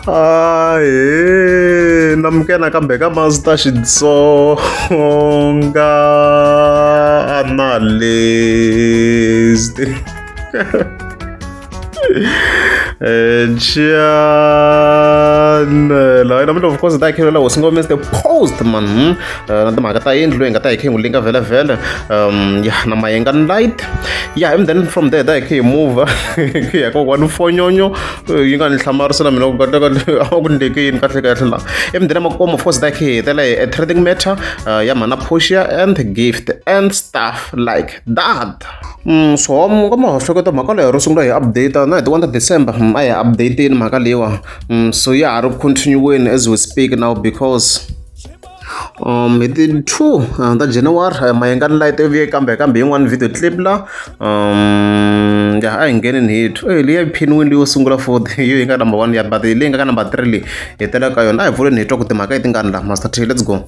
ae namuke nakambe ka mazita xitsonga analyst Jan laha namuntlha of course ta hi khengela hosi ngomese the post man na timhaka ta yindlu leyi nga ta hi khengulinga vhele vhele um ya na mayenga light ya yeah, and then from there da hi khe hi mover ku ya kokwani fonyonyo eh, yi nga ni hlamarisa na mina ku kateka a va ku ndleke yini kahle kahle la and then makomo force da khe hi hetela hi a trading matter uh, ya mhana portia and gift and stuff like that mm, so ka ma hleketa mhaka leyo ro sungula hi update na hi ti wonder december mm, a hi updateni mhaka leyiwa mm, so ya ha ri continuweni as we speak now because Hi ti two ta January Mayengani light yi vuye kambe kambe yin'wani video clip la ya a hi ngheneni hi two eyi liya yi phiniwini leyi yo sungula for the hi yo yi nga number one ya but leyi nga ka number three leyi hi tela ka yona a hi pfuleni hi twa ku timhaka leti nga ni la Master T let's go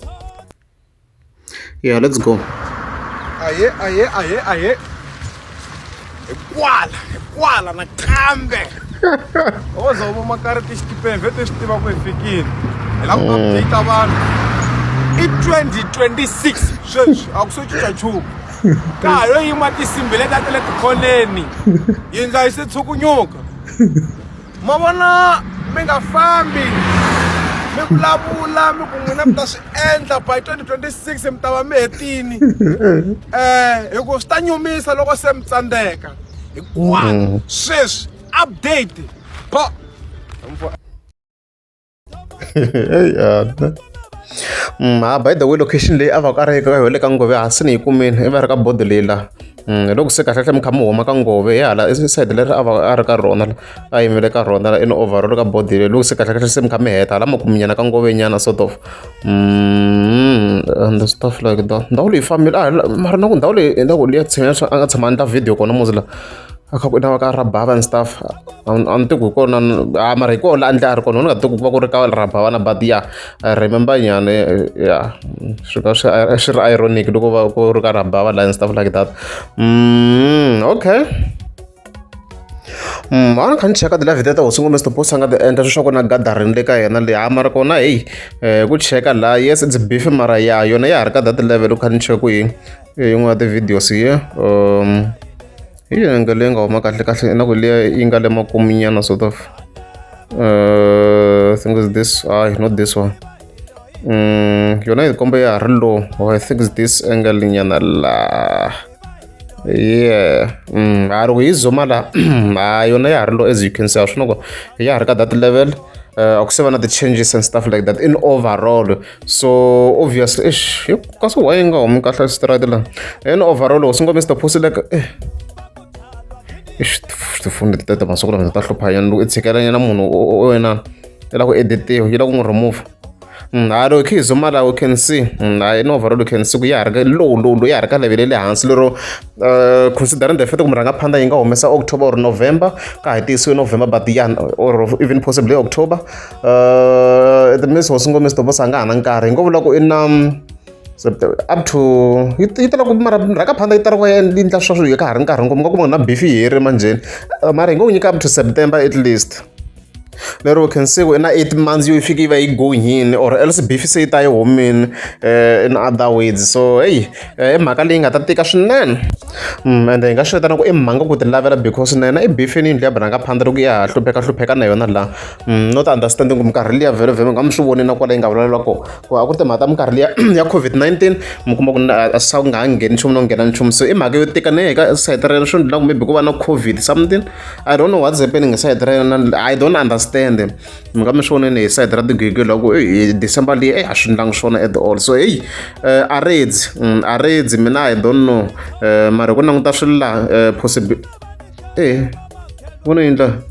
ya let's go. Ahee ahee ahee ahee. hikwala hikwala nakambe o za u voma kariti xitipeni vhete swi tiva ku hi fikile hi lava ku update vanhu i 2026 sweswi a ku so cinca nchumu ka ha yo yima tinsimbi leti a ti le tikhoneni yindla yi se tshukunyuka ma vona mi nga fambi mi vulavula mi ku n'wina mi ta swi endla by 2026 mi ta va mi hetini um eh, hi ku swi ta nyumisa loko se mi tsandzeka hikuva mm. sweswi update Mm, ha by the way location leyi a va ku a ri eka yo le ka ngove hansi ni yi kumile i va ri ka bodo leyi la mm, loko se kahlekahle mi kha mi huma ka ngove hi hala side leri a va a ri ka rona a yimele ka rona la in overall ka bodo leyi loko se kahlekahle se mi kha mi heta hala makuminyana ka ngove nyana sort of mm, and stuff like that ndhawu leyi fambile a mara na ku ndhawu leyi na ku liya tshemela a nga tshama a endla video kona muzi la a kha ku na ka rabava and stuff a ni tiku hi kona a mara hi kona la a ndle a ri kona ni nga tiku ku va ku ri ka rabava na but ya i remember nyane ya swi ka swi swi ri ironic loko va ku ri ka rabava la and stuff like that mm, okay Mm, a ni kha ni cheka ti-live teta hosi ngombe stopos a nga ti endla sweswaku na gathering le ka yena leyi a mara kona heyi um ku cheka la yes its beef mara ya yona ya ha ri ka that level u kha ni cheka ku yini hi yin'wana ya ti-videos ya um hi yanga leyi nga huma kahle kahle na ku liya yi nga le makuminyana sort of uh, think is this hayi not this one um yona yi komba ya ha ri low or i think is this angle nyana la yeah um ha ri ku yi zuma la ha yona ya ha ri low as you can see a swi na ku ya ha ri ka that level uh, ku se va na ti-changes and stuff like that in overall so obvious eish yo kasi why yi nga humi kahle xitirati la and overall loko swi ngo mr posi like eh eish tifoni leti tete masiku lama ta hlupha yena loko i tshikelanya na munhu wena i lava ku editiwa yi lava ku n'wi remove nalo khe izomala u can see naye novaro lu can see ku ya ha ri ka low low low ya ha ri ka level ya le hansi lero uh, considering the fact ku murhanga phanda yi nga humesa october or november ka ha tiyisiwe november but ya or even possibly october uh, the miss hosi ngomisi tobosa a nga ha na nkarhi hi ngo vula ku i na up to yi tala ku mara rhaka phanda yi tala ku yi ndla swa swilo ka ha ri nkarhi ngopfu nga kuma na bifi yi heri manjheni uh, mara hi ngo nyika up to september at least lero we can see ku na eight months yo yi fike yi va yi gohini or else bifi se yi ta yi humini uh, in other ways so heyi uh, i mhaka leyi nga ta tika swinene mm, and hi nga swi vitana ku i mhanga ku ti lavela because na yena i bifi ni yindlu ya bana nga phanda loko ya ha hlupheka hlupheka na yona laha Mm, not understanding ku minkarhi liya vhelo vhelo nga mi swi voni na kwala yi nga vulavula kona ku a ku ri timhaka ta minkarhi liya ya covid-19 mi kuma ku a swi ku nga ha ngheni nchumu no nghena nchumu so i mhaka yo tika ne ka sayiti ra yena swi ndlela ku maybe ku va na covid something i don't know what's happening hi sayiti ra yena i don't understand mi nga mi swi voneni hi sayiti ra tigwigwi la ku hi december leyi eyi a swi ndlangi swona at all so heyi eh, a redzi mm, a redzi mina i don't know eh, mara hi ku languta swilo laha eh, possible e vona yi ndlaha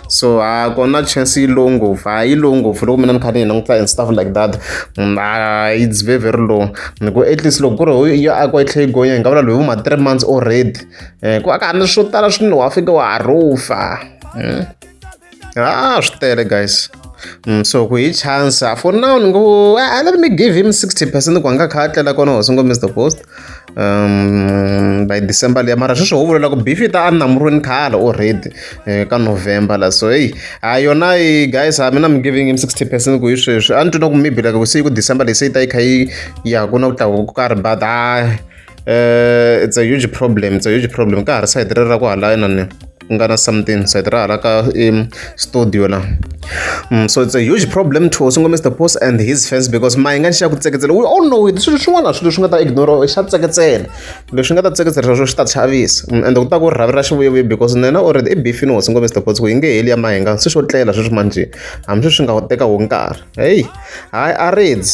so a ku na chance yi low ngopfu a yi low ngopfu loko mina ni kha ni yi languta and stuff like that mm, a it's very very low ni ku at least loko ku ri yo akiwa yi tlhe yi gonya hi nga vula loyi vo ma three months already um ku aka ni swo tala swinene wa fika wa harufa mm. a swi tele guys Mm, so ku hi chance for now ni ngo ah, let me give him 60 percent ku a nga kha a tlela kona hosi ngo mr post by december liya mara sweswi ho vulela ku bifita a ni namurweni khale already eh, ka november la so heyi a yona yi guys a mina mi giving him sixty percent ku hi sweswi a ni twi na ku maybe like se ku december leyi se yi ta yi kha yi ya ku na ku tlakuka ku karhi but a eh, it's a huge problem it's a huge problem ka ha ri sayiti ri ra ku halana ni ku nga na something so hi tirha hala ka um studio la mm, so it's a huge problem to singo mr boss and his fans because mayi nga ni xa ku tseketsela we all know it swilo swin'wana swilo swi nga ta ignore xa tseketsela leswi nga ta tseketsela swa swo swi ta chavisa mm, and ku ta ku rhavi ra xivuyevuye because nena already i bifini wo singo mr boss ku yi nge heli ya mahinga swi swo tlela sweswi manjhe hambi sweswi swi nga teka wo nkarhi heyi hayi a reds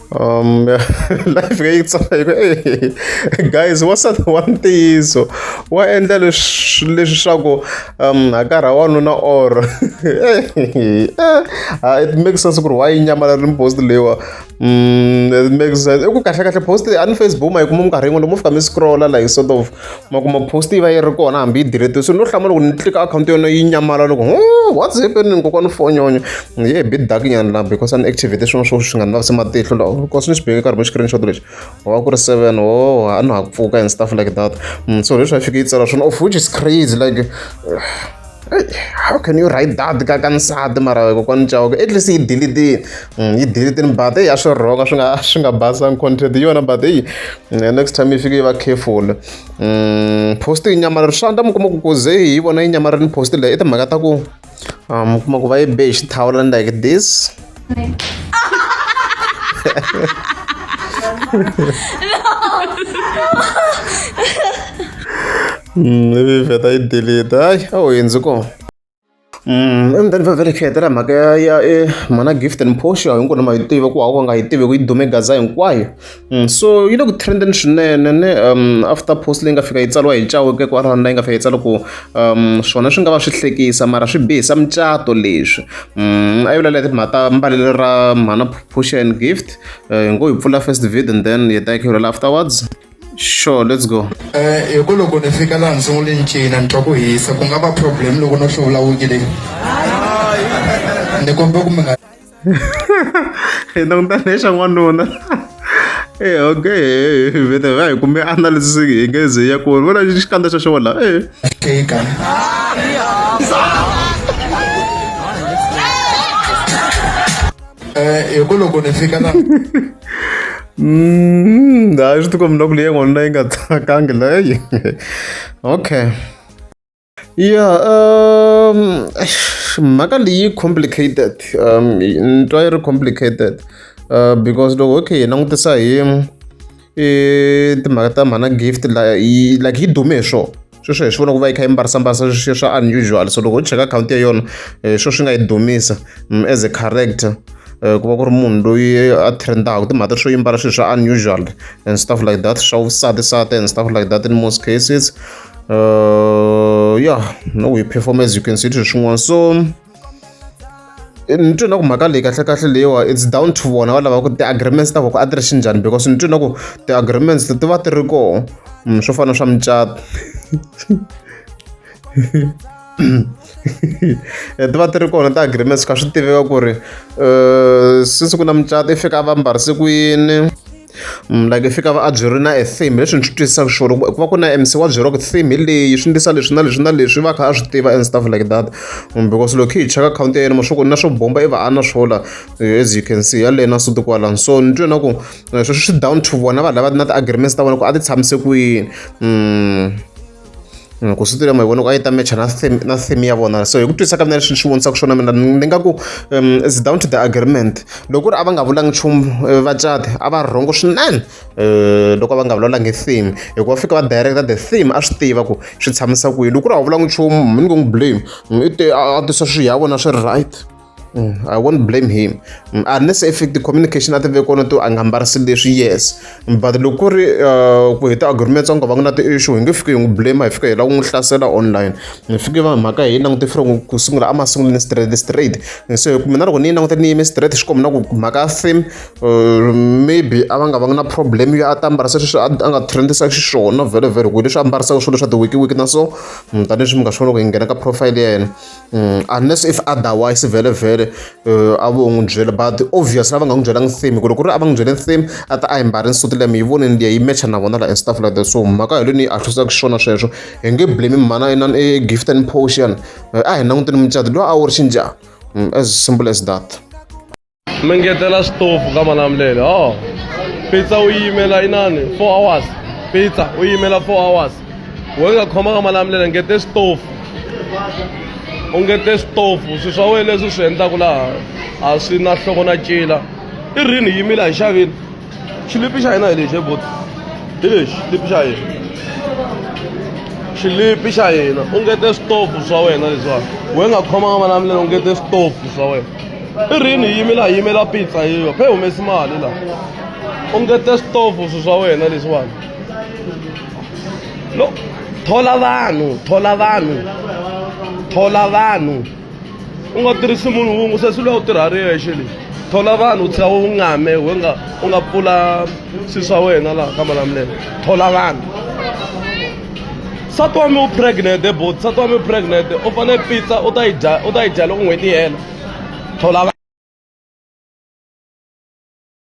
um life ka yi tsaka guys wa sa wa ntiyiso wa endla leswi leswaku um hakarha wanuna or ah, it makes sense ku ri wa yi nyamala ri post leyiwa um it makes sense i ku kahle kahle post a ni facebook ma yi kuma minkarhi yin'wana lomu fika mi scrolla like sort of ma kuma post yi va yi ri kona hambi yi delete so no hlamula loko ni tlika akhawunti yona yi nyamalala loko what's happening kokwana fonyonya ni ye bi dark nyana la because a ni activate swin'wana swo swi nga ni lavisi matihlo lawa because ni swi beke nkarhi mo screenshot lexi wa ku ri seven o oh, a ni ha ku pfuka and stuff like that mm, so leswi a fike yi tsala swona of which is crazy like how can you write that ka ka nsati mara kokwana ncawo at least yi delete mm, yi delete-ni but eyi a swi rhonga swi nga swi nga basanga content yona but eyi mm, next time yi fike yi va careful mm, post yi nyamalari swa ndla mi kuma ku kuze hi vona yi nyamalari ni post leyi i timhaka ta ku um, mi kuma ku va yi be hi xithawula ni like this no. vheta yi delete hayi a wu hundzi kona emutani va vele khiyetela mhaka ya ya e mhana gift and posha hinkwenu ma yi tiva ku hava nga yi tivi ku yi dume gaza hinkwayo so yi le ku trendeni swinene ne um after post leyi nga fika yi tsariwa hi chaweke ku arana leyi nga fika yi tsala ku um swona swi nga va swi hlekisa mara swi bihisa mucato leswi a yi vulela timhaka ta mbalelo ra mhana posha and gift hi ngo yi pfula first vid and then yi ta yi khirhela afterwards sure let's go eh hi ku loko ni fika laha ndzi n'wi ni cina ni twa ku hisa ku nga va problem loko no hluvula wuki leyi ni kombe ku mi nga hi langutana hi xa n'wanuna e okay vete va hi kumbe analysis hi nge ze ya ku vona xikandza xa xona e tika Eh, hi ku loko ni fika la Mm, hayi swi tikombi na ku leyi n'wanuna yi nga tsakangi leyi okay ya um mhaka leyi complicated um ni twa yi ri complicated uh, because loko okay hi langutisa hi i timhaka ta mhana gift la yi like yi dume hi swona sweswo hi swi vona ku va yi kha yi mbarisambasa sweswiya swa unusual so loko u cheka akhawunti ya yona hi eh, sweswo swi nga yi dumisa mm, as a character Eh, ku va ku ri munhu loyi a trendaka timhaka swo yimbala swilo swa unusual and stuff like that swa vusati sati and stuff like that in most cases uh, yeah no we perform as you can see swin'wana so ni twe na ku mhaka leyi kahlekahle leyiwa it's down to vona va lava ku ti-agreements ta voko a ti ri xinjhani because ni twe na ku ti-agreements ti va ti ri koho mm, swo fana swa mucato Eh, ti va ti ri kona ti-agreements ka swi tiveka ku ri um since ku na mucato i fika a va mbarise ku yini like fika va a byi ri na a theme leswi ni swi twisisaka sure ku va ku na mc wa byeriwa ku theme hi leyi swi ndisa leswi na leswi na leswi va kha a swi tiva and stuff like that mm, because loko hi cheka akhawunti ya yena mashoku na swo bomba i va a na swola eh, as you can see yaleyo na suti kwalani so ni twe na ku eh, sweswi swi down to vona vanhu lava na ti-agreements ta vona ku a ti tshamise kwini mm. Mm, ku switori ya mavona ku a yi ta matcha na theme na theme ya vona so hi ku twisisa ka mina leswi ni swi vonisaka swona mina ni nga ku um is down to the agreement loko ku ri a va nga vulangi nchumu eh, vacati a va rhongo swinene um loko a va nga vulavulangi theme hikuva fika va directa the theme a swi tiva ku swi tshamisa kwihi loko ku ri a wu vulangi nchumu mi ni ku n'wi blame mm, i te a tisa swi ya vona swi ri right Mm, I won't blame him mm, unless if the communication a tive kona to a nga mbarisi leswi yes mm, but loko ku ri uh, ku heta agreement tsongo va nga na ti-issue hi nge fike hi n'wi blame hi fika hi lava ku n'wi hlasela online hi fike va mhaka hi langute fre ku sungula a ma sunguleni straight straight so hi ku mina loko ni yi languta ni yime straight swi kombi na ku mhaka theme uh, maybe a va nga va nga na problem yo a ta mbarisa sweswi a nga trendisa xiswona vhele vhele ku leswi a mbarisaka swilo swa ti-wiki wiki na so tanihi leswi mi nga swi vona ku hi nghena ka profile ya yena Mm, unless if otherwise vhele vhele uh, a vo n'wi byela but obviously a va nga n'wi byelangi theme ku loko ri a va n'wi byele theme a ta a yi mbari nsuti leyi mi yi voneni liya yi matcha na vona la and stuff like that so mhaka hi leni yi ahlisaka xona sweswo hi nge blame mhana inani e gift and potion eh, a hi languteni mucato loyi a wu ri xinjhani mm, as simple as that mi ngetela xitofu ka malamulele o pizza u yimela inani four hours pizza u yimela four hours we nga khomanga malamulele ngete xitofu u ngete xitofu swi swa wena leswi swi endlaku laha a swi na hloko na cila i rini yimile a hi xaveni Shilip i xaye na hi lexi bot hi lexi shilip xa yena xilipi xa yena u ngete switofu swa wena leswiwani we nga khomanga vana milenge u ngete switofu swa wena i rini hi yimela hi yimela pizza yiyo phe humesi mali laha u ngete switofu swi swa wena leswiwani lo thola vanhu thola vanhu thola vanhu u nga tirhisi munhu wun'we se swi lwa u tirha ri yexe leyi thola vanhu u tlhela u ngame we nga u nga pfula swi swa wena laha ka malamulelo thola vanhu sati wa mi u pregnant bot sati wa mi pregnant u fanele pizza u ta yi dya u ta yi dya loko n'hweti yi hela thola